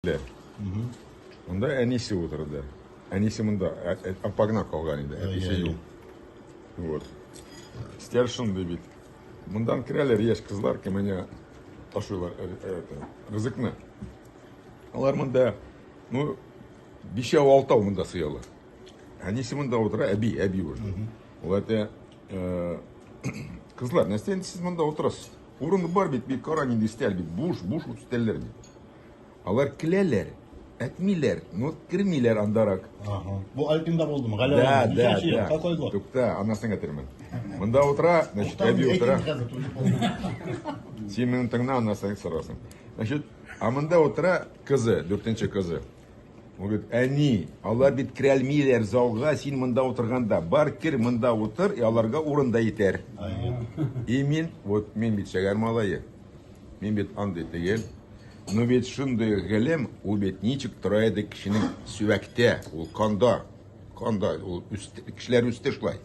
киттеләр. Монда әнисе утырды. Әнисе монда, ә- ә- апа гына калган иде, әтисе юк. Вот. Стер шундый бит. Мондан керәләр яшь кызлар, кеменә ташыйлар э, э, это, рызыкны. Алар монда, ну, бишәү алтау монда сыялар. Әнисе монда утыра, әби, әби уже. Ул әтә, э, кызлар, нәрсә инде сез монда утырасыз? Урын бар бит, бит кара нинди стәл бит, буш, буш ут стәлләр бит. Алар келәләр, әтмиләр, но кермиләр андарак. Ага. Бу Альпинда булдымы? Галәвә. Да, да, Ничәнче ел? да. Какой год? Тукта, анасын әтермен. Монда утыра, значит, Там әби утыра. рейтинг хәзер түгел булды. Син минем тыңна, анасын сорасың. Значит, а монда утыра кызы, дүртенче кызы. Он говорит, әни, алар бит керә алмыйлар залга, син монда утырганда. Бар кер, монда утыр, и аларга урын да итәр. Ай, И мин, вот мин бит шәгәр малае. Мин бит андый тегел. Ну бит шундый гелем, ул бит ничек тора иде кешенең сөәктә, ул канда. Канда, ул үст, кешеләр үсте шулай.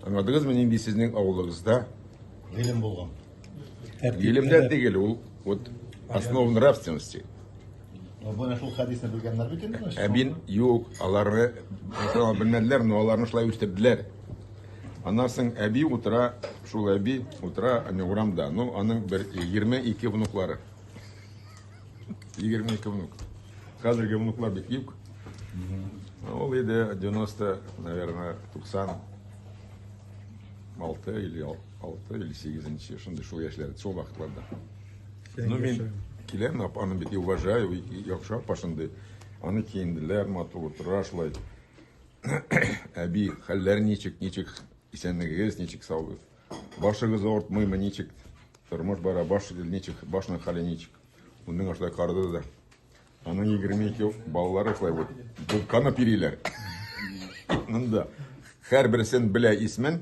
Аңладыгызмы, нинди сезнең авылыгызда? Гелем булган. Гелемдә тегел, ул вот основа нравственности. Бына шул хәдисне белгәннәр бит инде. Ә мин юк, аларны белмәделәр, но аларны шулай үстерделәр. Аннан соң әби утыра, шул әби утыра әнә урамда. Ну, аның бер 22 внуклары. 22 внук. Хәзерге внуклар бик юк. Ул иде 90, наверное, 90 6 или 6 или 8 шундый шул яшьләрдә, шул вакытларда. Ну, мин киләм, апаны бик уважаю, яхшы апа шундый. Аны киенделәр, матур утыра шулай. Әби, хәлләр ничек, ничек? Исәнлегегез ничек, саубыз? Башыгыз ортмыймы, ничек? Тормыш бара, баш ничек, башның хәле ничек? Уның ашта карды да. Аның 22 балалары шулай вот. Булканы пириләр. Монда. Хәр берсен белә исмен,